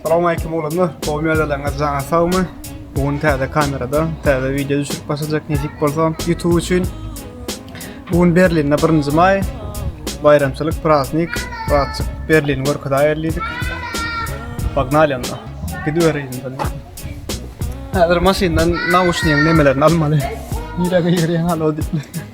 Salam aleyküm oğlanlar. Bol mezeleňiz jana sagmy? Bu gün täze kamerada, täze video düşürip başlajak nesip bolsa YouTube üçin. Bu gün Berlinde 1-nji maý. Bayramçylyk, praznik, praznik Berlin görkezaýer diýdik. Pognaly onda. Gidibereýin indi. Häzir maşyndan nauşnigiň nemelerini almaly. Nirä girýän halo diýip.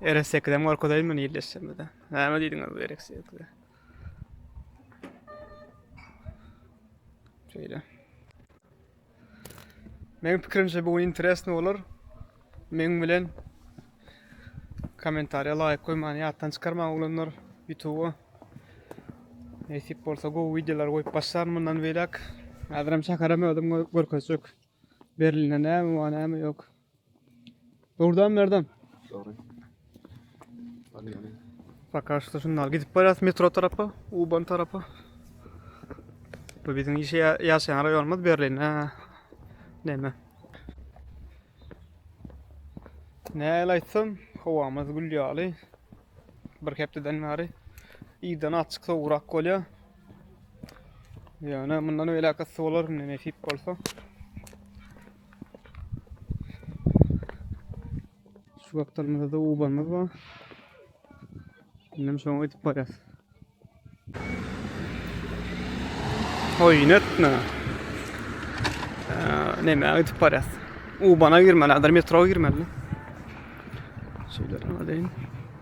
Ere sekizem gorkuzaýyn men ýerleşjemde. Näme diýdiňiz bu erek sekize? Şeýle. Meň pikirimçe bu gün interesno bolar. Meň bilen kommentariýa laýyk goýmany ýatdan çykarmaň oglanlar YouTube. Nesip bolsa gowy wideolar goýup başlaryn mundan beýläk. Häzirem çakaram özüm görkezjek. Berlinde näme bar, näme ýok. Durdam Merdan. Sorry. Sakaşda şundan gidip barýas metro tarapa, Uban tarapa. Bu biziň işe ýaşaýan raýonymyz Berlin. Näme? Näle aýtsam, howamyz gül ýaly. Bir hepdeden bäri ýydan açyk sowrak bolýar. Ýöne mundan öýläk ysy bolar, näme nesip bolsa. Şu wagtlarymyzda da ubanymyz bar. Şimdi şoňa ötüp barýas. Oýun etme. Neme ötüp barýas. Ubana girmeli, adar metroga girmeli. Şeýle deýin.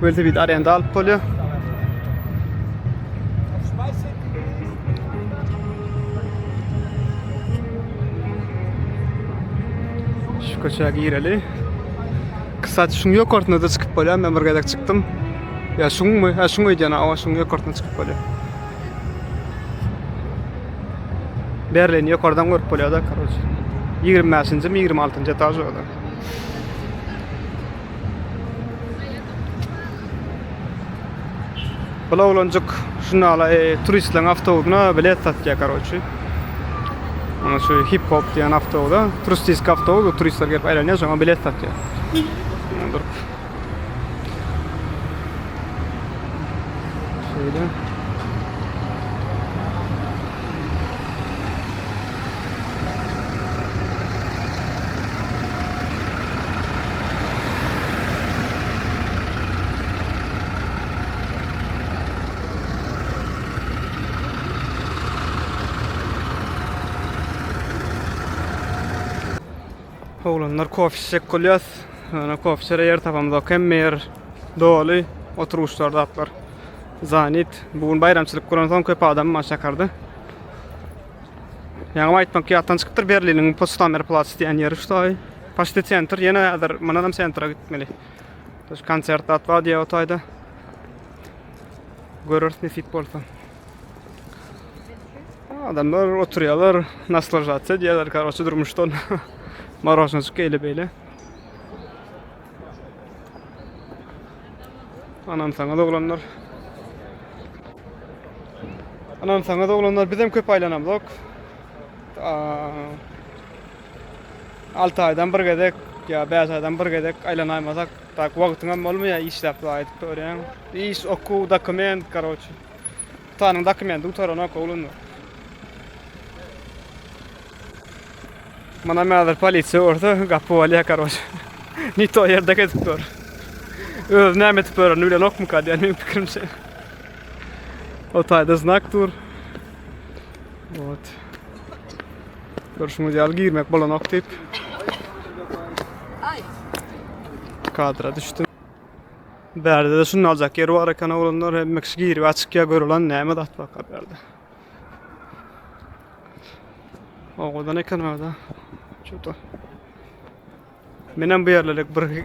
Welosiped arenda alyp bolýar. Şu köçä gireli. Kısa şuň ýokarsyna da çykyp bolýar. Men bir gezek çykdym. Ya şuňmy? Ha şuň öýdýän, awa şuň ýokarsyna çykyp bolýar. Berlin ýokardan görüp bolýar da, karoç. 25-njimi, 26-njy etaž orada. Bul oglanjyk şunala e, turistleriň awtobusyna bilet satýar karoçi. Ana şu hip hop diýen awtobusa, turistik awtobus, turistler gelip aýlanýar, şoňa bilet satýar. Dur. Şeýle. Oglanlar kofe içjek bolýas. Ana kofe içere ýer tapamyzok. Hemme ýer doly. Oturuşlar zatlar. Zanit. Bu gün baýramçylyk guran soň köp adam maşakardy. Ýaňam aýtmak ýatdan çykypdyr Berliniň bu Potsdamer Platz diýen ýeri şutaý. Paşti sentr ýene häzir mundan hem sentra gitmeli. Şu konsert zat bar diýýär otaýda. Göreris nesip bolsa. Adamlar oturýarlar, naslažatsiýa diýýärler, karoçe durmuşdan. Marožnajyk eýle beýle. Anansaňyz oglanlar. Anansaňyz oglanlar bizem köp aylanamzok. Altı aydan bir gezek ya beş aydan bir gezek aylanaymasak tak wagtyňam bolmaýar işläp zaýat görýän. Iş, okuw, dokument, karoçi. Gutanyň dokumenti gutaranok oglanlar. Munam häzir polisiýa görse gapy bolýar karoç. Ne to ýerde gezip dur. Öz näme etip ýörenini bilenokmyka diýen meniň pikirimçe. O taýda znak dur. Ot. Görüşüňiz ýaly girmek bolanok diýip. Kadra düşdüm. Bärde-de şuny aljak ýer bar eken oglanlar, hemmek şu girip açykýa görülen näme zat baka bärde. Owadan eken orada. Şuda. Menem bu ýerlere bir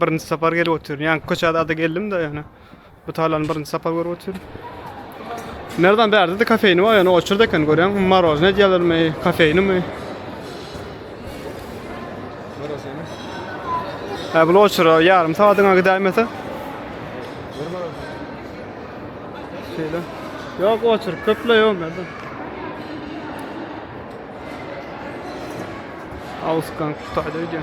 birinji sapar gelip otyryn. Ýa köçäde ada geldim-de ýöne. Bu tarlany birinji sapar görüp otyr. Merdan bärde de kafeýni bar, ýöne oçurdy eken görýäň, marozne diýerlermi, kafeýnimi? Marozne. Ha bu oçura ýarym sagadyňa gidäýmese. Bir marozne. Şeýle. Ýok, oçur köple ýok Merdan. Ausgang Stadion.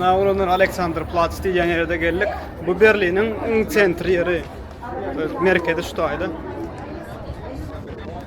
Navruzlar Aleksandr Platz diýen ýerde geldik. Bu Berliniň iň sentri ýeri. Merkezi şu taýda.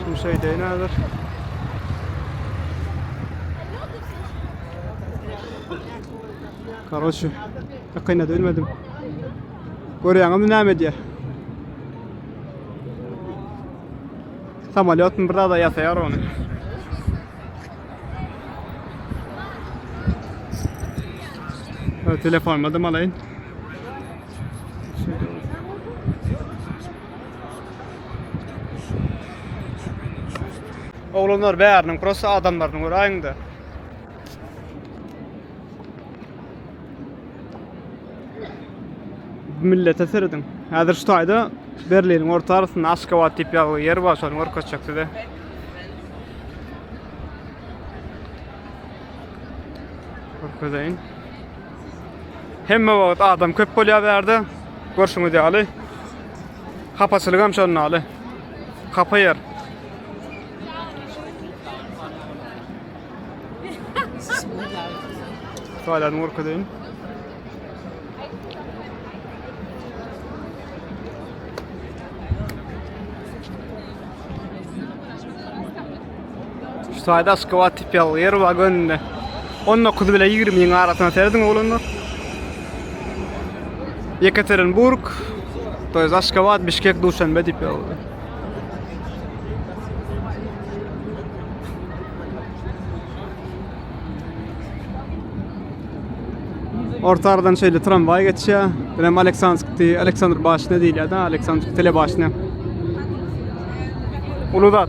Suw şeýdeýin häzir. Karoçi, ýakynda bilmedim. Görýäňizmi näme diýýär? Samolyotun bir zada ýasaýar ony. Telefon madem alayın. Oglanlar bäriniň prosta adamlaryny göräýiňde. Millete serediň. Häzir şu taýda Berliniň orta arasynda Aşgabat diýip ýazgy ýer bar, şony görkezjek size. Görkezeýin. Hemme wagt adam köp bolýar bu ýerde. Görşüňiz ýaly. Hapaçylyk hem şondan ýaly. Hapa ýer. Şaýlaryny görkezeýin. Şu taýda aşgabat tipýal ýer bar gönde. 19 bilen 20 ýyň arasyna serediň oglanlar. Yekaterinburg, to jest Aşgabat, Bişkek, Duşanbe diýip ýazyldy. Orta aradan şeýle tramwaý geçýär. Bu hem Aleksandrskdi, Aleksandr başyna diýilýär-de, Aleksandr telebaşyna. Uly zat.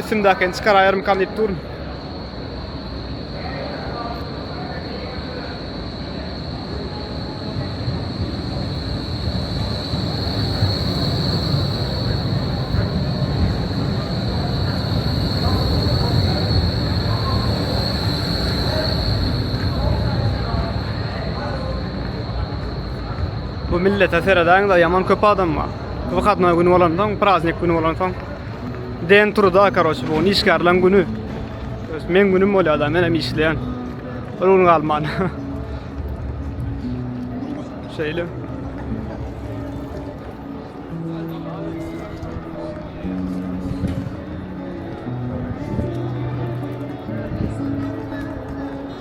Üstümdäkini çykaraýarmykam diýip durun. Bu millete seredäňiz-ä, ýaman köp adam bar. Wykadnoý güni bolandan, praznik güni bolansoň den turda, karoç, bu işgärleň güni. Öz men günüm bolýar da, men hem işleýän. Bir gün galman. Şeýle.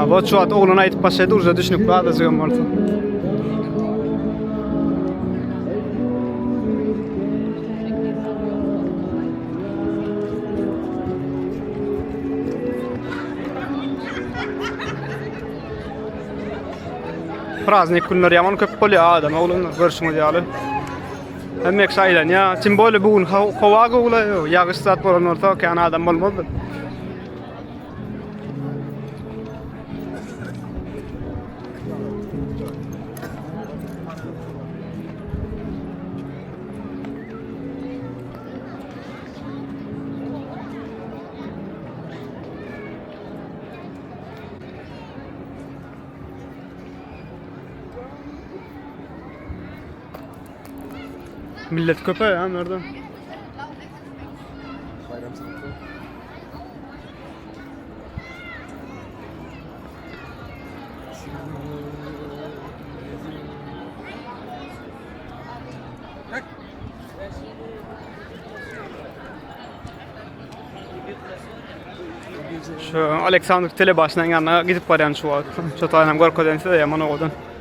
Abo şu wagt oglan aýdyp başlady, urza düşünip gadyjy hem bolsa. Praznik günler ýaman köp bolýar adam oglanlar görşüňiz ýaly. Hemmek şaýlan ya. Kim böyle bugün hava gowla ýagyş zat bolan bolsa kan adam bolmazdy. Millet köpe ya nerede? Bayram sanatı. Şu Aleksandr Telebaşynyň yanına gidip baryan şu wagt. Şu taýynam görkezen size ýaman owadan.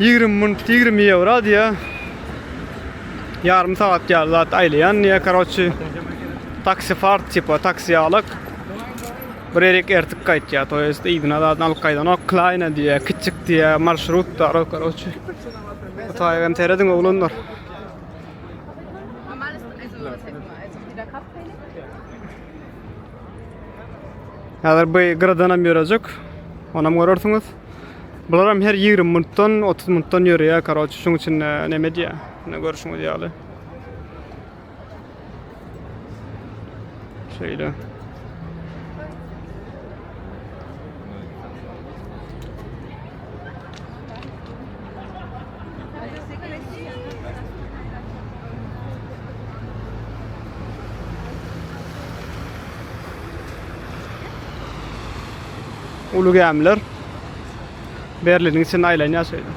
Ýigrimi munt ýigrimi ýewro diýýä. Ýarym sagat ýaly zat aýlaýan diýýä karoçi. Taksi fart tipa taksi ýalyk. Bir erik ertik gaýtýa, to ýest yzyna zat alyp gaýdanok. Klaýna diýýä, kiçik diýýä, marşrut da ro karoçi. Taýgan terediň oglanlar. Häzir bu gyradan hem ýörejek. Onam görersiňiz. Bular hem her 20 minutdan, 30 minutdan ýörýär. Karoç, şuň üçin e, näme diýýär? Ine görüşiňiz ýaly. Şeýle. Ulu gämiler Berliniň içinde aýlanýar şeýle.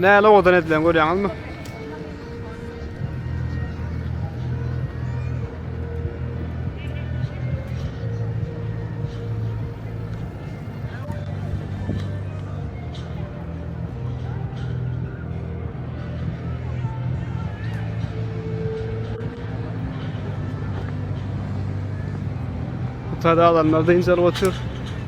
Näle owadan edilen görýäňizmi? Tada alanlar da incelip otur.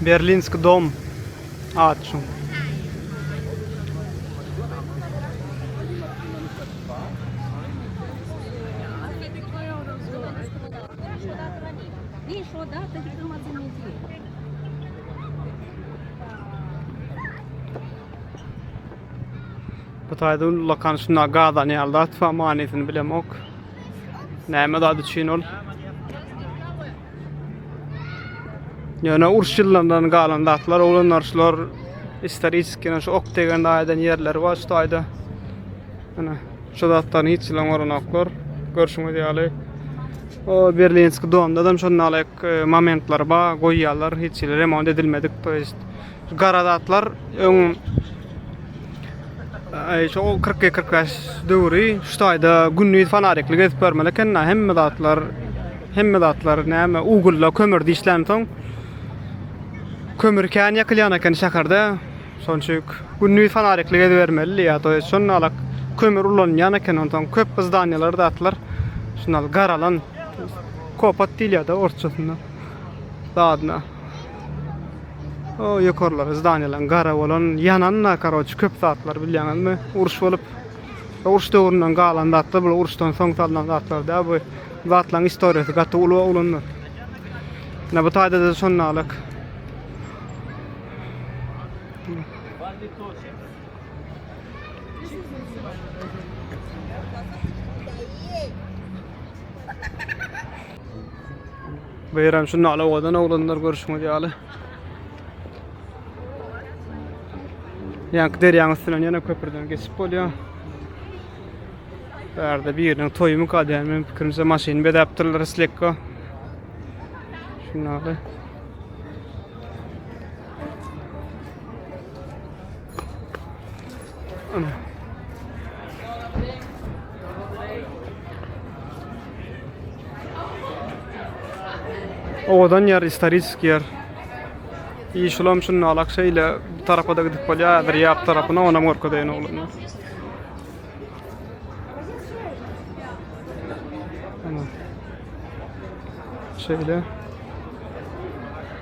Berlinski dom at şu. Bu taýda ullakan şunda gazan ýaly zat bar, manysyny bilemok. Näme zat üçin ol? Ýöne uruş ýyllaryndan galan zatlar, oglanlar şular istoristik ýene şu ok degende aýdan ýerleri bar şu taýda. Ana, şu zatlaryny hiç ýylam goranoklar. Görşüňiz ýaly. O Berlinski domda hem şonda Momentler ba goýýarlar hiç hili remont edilmedik to ýest gara zatlar öň Aý şo kyrk iki kyrk bäş döwri şu taýda gündiz fanarikli gezip görmeli eken hemme zatlar hemme zatlar näme ugulda kömürde işlänsoň kömür kän ýakylýan eken şäherde şonuň üçin gündiz fanarikli gezip bermelidi ýa to ýest şonda alak kömür ulanylýan eken onsoň köp zdanýalar zatlar şunda garalan Kopat diýilýär-de orsçasynda zadyna. O ýokarlary zdaniýalaryň gara bolan, ýanan-da karoçi köp zatlar bilýäňizmi? Uruş bolup, uruş döwründen galan zatlar bul, uruşdan soň salnan zatlar däl bu. Bu zatlaryň istoriýasy gaty uly oglanlar. Ine bu taýda-da şondalyk. Bu ýer hem şunda alawadan oglanlar görüşmek ýaly. Ýanky derýaň üstünden ýene köprüden geçip bolýar. Bu ýerde biriniň toýumy kadýar, men pikirimçe maşyny bedäpdirler slekka. Şunda Owadan ýer, istorik ýer. Iş ulam şunda alak şeýle bu tarapa da gidip bolýar, häzir ýap tarapyna onam görkezeýin oglana. Şeýle.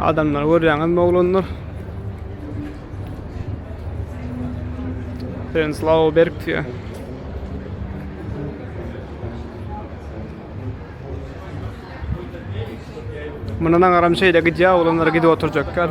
Adamlar görýäňiz oglanlar. Sen slaw berk diýýär. Mundan agaram şeýle gidýär, oglanlar gidip oturjaklar.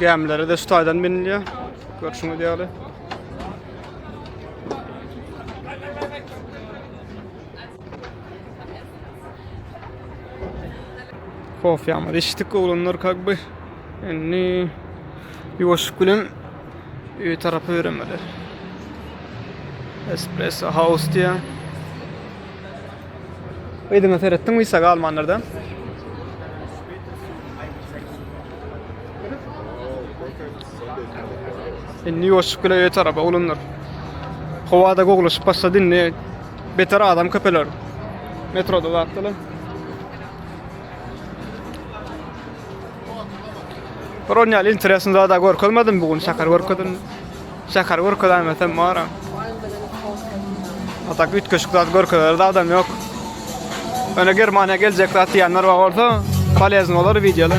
Gämilere de şu taýdan binilýär. Görşüňiz ýaly. Kofýamyz içdik oglanlar kak bir. Indi ýuwaşyp bilen öý tarapy ýöremeli. Espresso House diýýär. Yzyňa seretdiň wisa galmanlarda. Indi ýoşup gile öýe tarapa oglanlar. Howada gowlaşyp başlady indi. Beter adam köpeler. Metroda zatdylar. Bir on ýaly interesny zada görkezmedim bu gün şäher görkezdim. Şäher görkezemesem bar. Ata gütkeşik zat görkezer zadam ýok. Öne Germaniýa geljek zat diýenler bar bolsa, polezny bolar wideolar.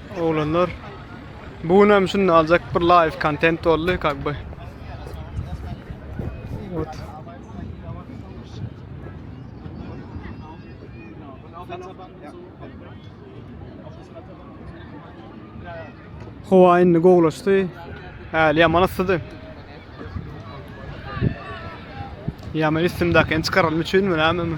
Oglanlar bu gün hem şunda aljak bir live kontent boldy kak by. Ot. Hova indi gowlaşdy. Häli ýaman yssydy. Ýaman üstümdäkini çykaralym üçinmi, näme?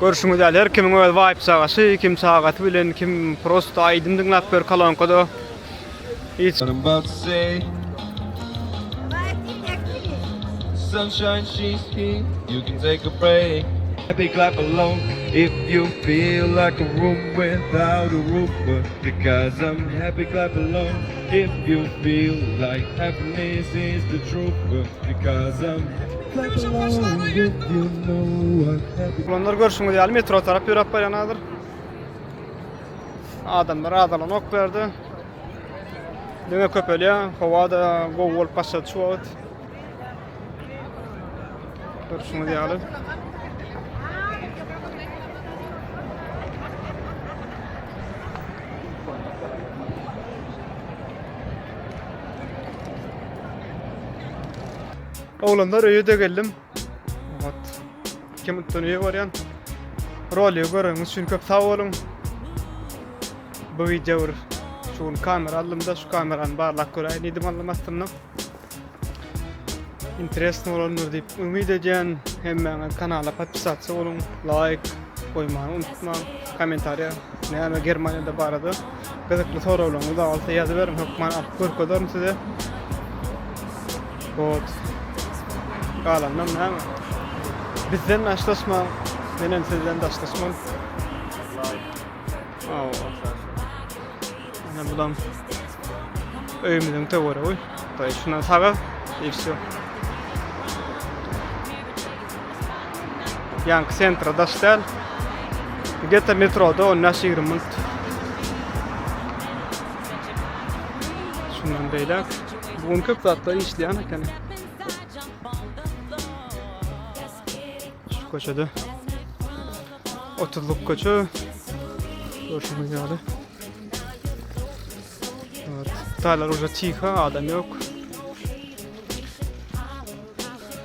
Görşüňiz ýaly, her kimiň öz waýyp-çagasy, kim sagaty bilen, kim prosto aýdym diňläp ýör kolonkada. Oglanlar görşüňiz ýaly metro tarap ýöräp barýan hazir. Adamlar azalanok bu ýerde. Diňe köpelýär. Howa-da gowy bolup başlady şu wagt. Görşüňiz ýaly. Oglanlar öýe-de geldim. Oňat. Iki minutdan öýe barýan. Roly göreniňiz üçin köp sag boluň. Bu wideo bir şu gün kamera aldymda, şu kamerany barlap göräýin diýdim alnym astynda. Interesni bolandyr diýip umyt edýän. Hemmäňiz kanala podpisatsa boluň, laýk goýmagy unutmaň. Kommentariýa näme Germaniýada barada Gyzykly soraglaryňyz bar bolsa ýazyberiň, hökman alyp görkezerin size. Hot. Galandan näme? Bizden daşlaşma, men hem sizden daşlaşman. Aw. Ana bulam öýümüziň töweregy. Daýy şuna saga, işi. Ýaňky sentra daş däl. Gete metroda 15-20 minut. Şundan beýläk bu gün köp zatlar işleýän eken. Şu köçede 30-lyk köçe. Görşüňiz ýaly. Taýlar uja tiha, adam ýok.